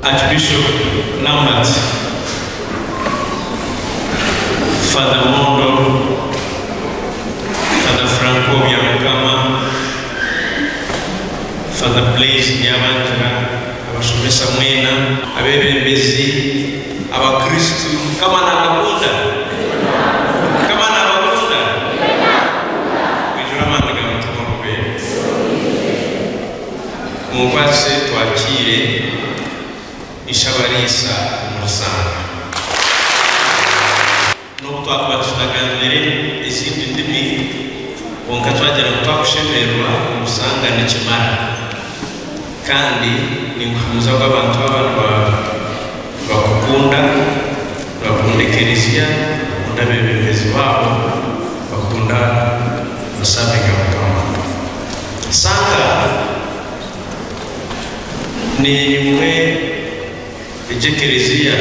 Archbishop Namat Father Mondo, Father Franco Byamukama, Father Blaise Byabangira, abashomesa mwena, abebembezi, abakristu, Mukama nabakunda, Mukama nabakunda, mwijure amaani ga Mutima Omubeezi. Mumbaase twakire Ishabariisa Murusaanga. N'obu twakuba tutagamire ezindi ndimi, kwonka twagira ngu twakushemererwa Murusaanga nikimara. Kandi ninkuhamiza ogu abantu aba niba. Bakukunda, bakunda ekereziya, bakunda abebembezi baabo, bakunda Musaabe Nyamukama. Santa neyimwe egyo ekereziya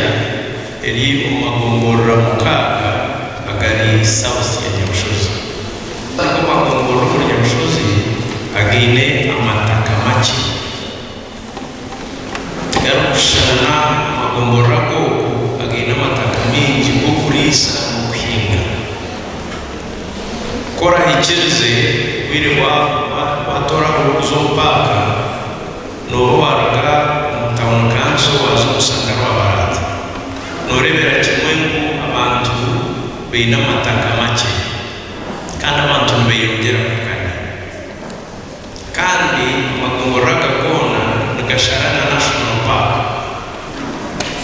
eri omu magomborora mukaaga agari South ya Nyamushozi. Ago magomborora omuri Nyamushozi againe amataka makye. Tiharikushushana amagomborora ag'oku againe amataka maingi g'okuriisa n'okuhinga. Ku orahikirize, obwire bwahurwa, waatooraho orikuza omu paaka, nooba waaruga omu tauni kanso waaza omu rusaga rwa Baraata, nooreebera kimwe ngu abantu baine amataka makye, kandi abantu nibeyongyera kukanya. kandi amagomborora aga goona nigashara na National Park.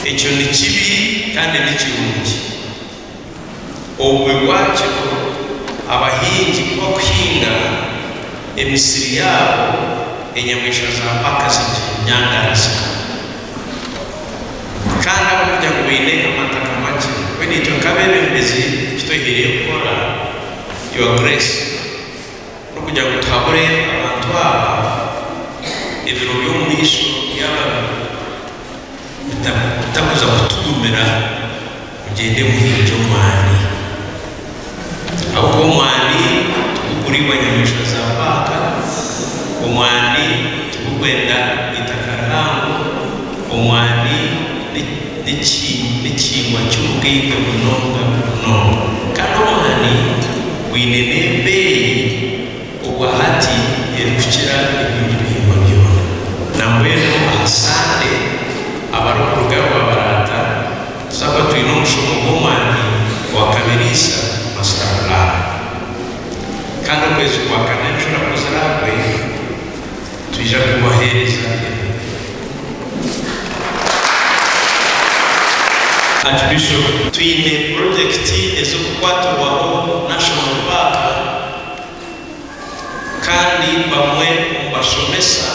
Ekyo ni kibi kandi ni kirungi. Obubi bwakyo, abahingi ku bakuhinga, emisiri yaabo enyamaishwa za paaka ziginyangariza. Kandi ahabw'okugira ngu baine amataka makye, mbwenu itwe nk'abeebembezi eki twehaire kukora, Your Grace, N'okugira ngu tuhabure abantu aba, ebiro by'omumaisho byaba bitakuza kutugumira, mugyende muhingye omwani. Ahabw'okuba omwani tiguguriibwa nyamaishwa za paaka, omwani tigugwenda eitaka rihango, omwani n'ekihingwa ky'omugainga munonga munonga. Kandi omwani. Bwine n'embeeyi obwa hati erikukira ebindi bihingwa byona. Nambwenu aha Sande abarikuruga Rwabaraata tuzaba twine omushomo gw'omwani gwa Kabiriisa, Master Plan. Kandi okwezi kwa Kananjura ku ziraagwe, Twija kubaheereza ebirungi. Archbishop. Twine purojekiti ez'okukwatirwaho National Park kandi bamwe omu bashomesa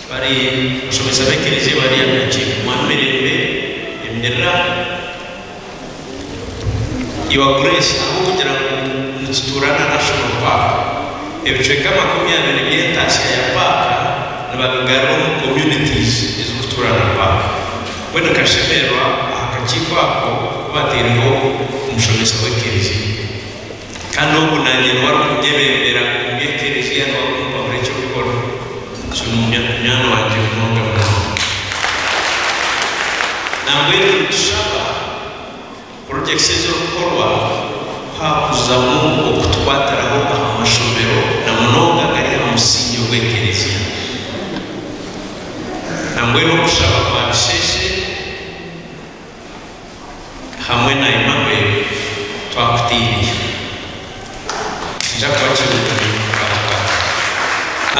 bari abashomesa b'ekereziya bari aha ki? Mwami Mirembe, emirira. Your Grace ahabw'okugira ngu nitutuura na National Park, ebicweka makumi abiri by'entaatsya ya paaka nibabigarura omu communities ezirikutuura na paaka. Mbwenu nkashemererwa aha kakiiko ako ku bataireho omushomesa w'ekereziya. Kandi ogu naanye niwe arikunyebembera omu by'ekerezia, niwe arikumpahura eki kukora. Kinuuya munywani wangye munonga munonga. Nambwenu nitushaba kuruga ekishezo orikukorwa kwakuzamu okutukwatiraho aha mashomero, na munonga agari aha musingi ogw'ekerezia. Nambwenu okushaba kwa bisheshe. hamwe na Emmanuel twakutiinire nikija kuba kirungi munonga.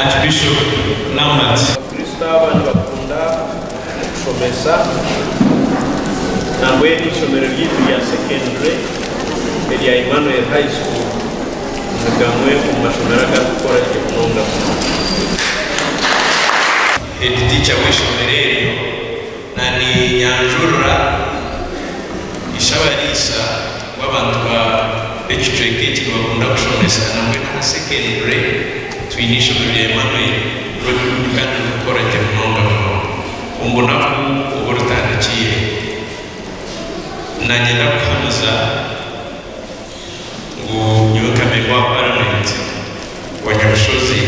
Archbishop Namunazi. Abakristo aba nibakunda kushomesa nambwenu eishomero ryaitu rya secondary erya Emmanuel High School ni gamwe omu mashomero agarikukora gye munonga munonga. Head Teacher w'eishomero eryo. Na ninyanjurira Ishabariisa w'abantu ba b'ekicweka eki nibakunda kushomesa nabwe n'aha sekendure twine eishomero rya Emmanuel Roadwood kandi ririkukora gye munonga munonga omubunaku obu ritandikiire. Nanye ndakuhamiza. ngu nyowe nka Memba wa Paramenti wa Nyabushozi,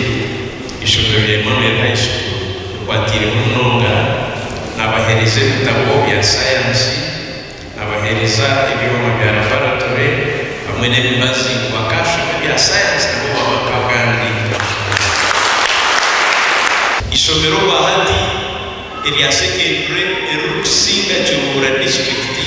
eishomero rya Emmanuel High School rikwatiireho munonga, naabaheereza ebitabo bya sayansi, naabaheereza ebyoma bya laboratore hamwe n'emibazi ngu bakaashoma ebya sayansi nabo baaba nk'abandi bashobozi. Eishomero rwa hati erya sekendule eririkusinga Kiruhura disiturikiti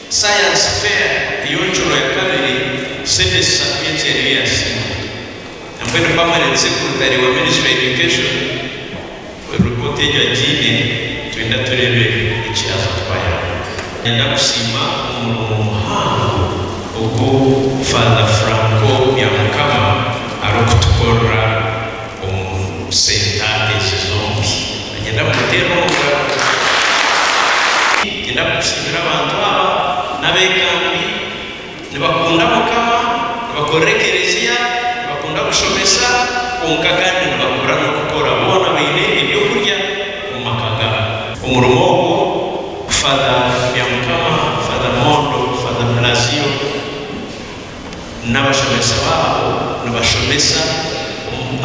Science Fair ey'enshuro ya kabiri sente esatu y'ekyeeyo yaasiimwa. Nabwe ni Pamela Nsekutari wa Ministry of Education we report egyo agiine twenda tureebe eki aza kutwayaamu. Niinyenda kusiima omurimo muhango ogu Father Franco Byamukama arikutukorera. Omusentanti Kizombi ninyenda kumuteera omu ngaro. Ninyenda kushimira abantu aba n'abekambi nibakunda Mukama, nibakorera ekereziya, nibakunda kushomesa kwonka kandi nibakora n'okukora boona baine eby'okurya omu maka gaabo. Omurimo ogwo Father Byamukama, Father Mondo, Father Blazio, n'abashomesa baabo nibashomesa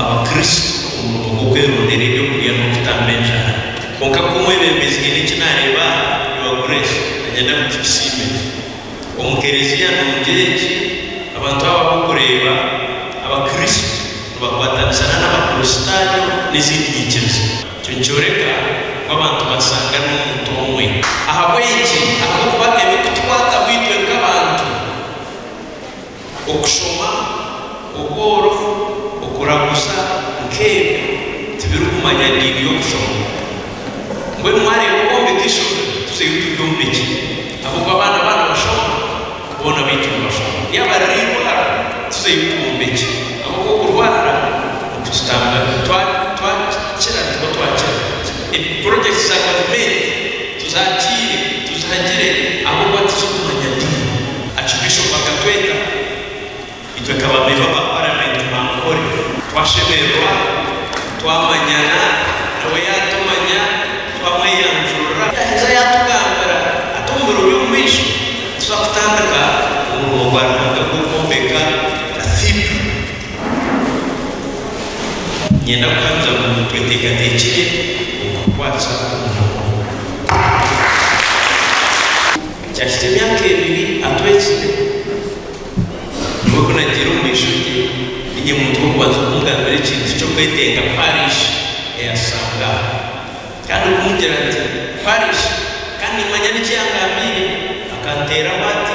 Abakristo omurimo gw'okwerondera eby'okurya n'okutamba enjara. Kwonka ku omwebembezi haine eki naareeba aha, Your Grace, nanyenda ngu tukisiime gye. Omu Kelezia nungi egi, abantu abo ab'okureeba Abakristo nibakwatanisa n'Abakristaayo n'ezindi nyikiriza. Ekyo nikyoreka ngu abantu basanga n'omuntu omwe. Ahabw'enki? Ahabw'okuba ebirikutukwataho itwe nk'abantu Okushoma, obworofu, okuraguza nk'ebyo tibirikumanya diini y'okushoma. Mbwenu mwareeba competition tuzeyo turi omu migi ahabw'okuba abaana baaba nibashoma, boona baitu nibashoma. Yaaba riri eirwaro tuzeyo turi omu migi ahabw'okuba okurwara nikututambayo. Twakira, nituba twakira. Projects za gavumenti. Tuzaatiire, tuzihagire ahabw'okuba titurikumanya diini. Archbishop akatweta itwe nka bamemba ba paramenti ba Ankole. Twashemererwa, twamanyana, nawe yaatumanya, twamweyanjurira. Yaaheza yaatugambira ati, Omu biro by'omumaisho nituza kutandika omurimo gwa Ruhanga gw'okwombeka Cathedral. Niinyenda kuhamiza ngu tweteekateekire okukwatsa omuhoro ogwo. Kyahikya emyaka ebiri atwekire, nyowe ku nagiire omu maisho ge, niinye muntu w'okubanza kumugambira ekintu ky'okwetenga parishi eyashanga aho. Kandi kumugira nti, Parishi! Kandi nimmanya n'eki yangambiire, akanteeraho ati,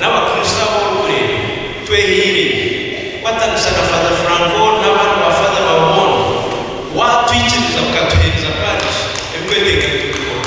N'abakristo abu orikureeba twehaire gye. Kwatanisa na Faaza Franco n'abandi ba Faaza ba Ruhondo. Waatwikiriza mukatuheereza parish ebikwetenga nitubikora.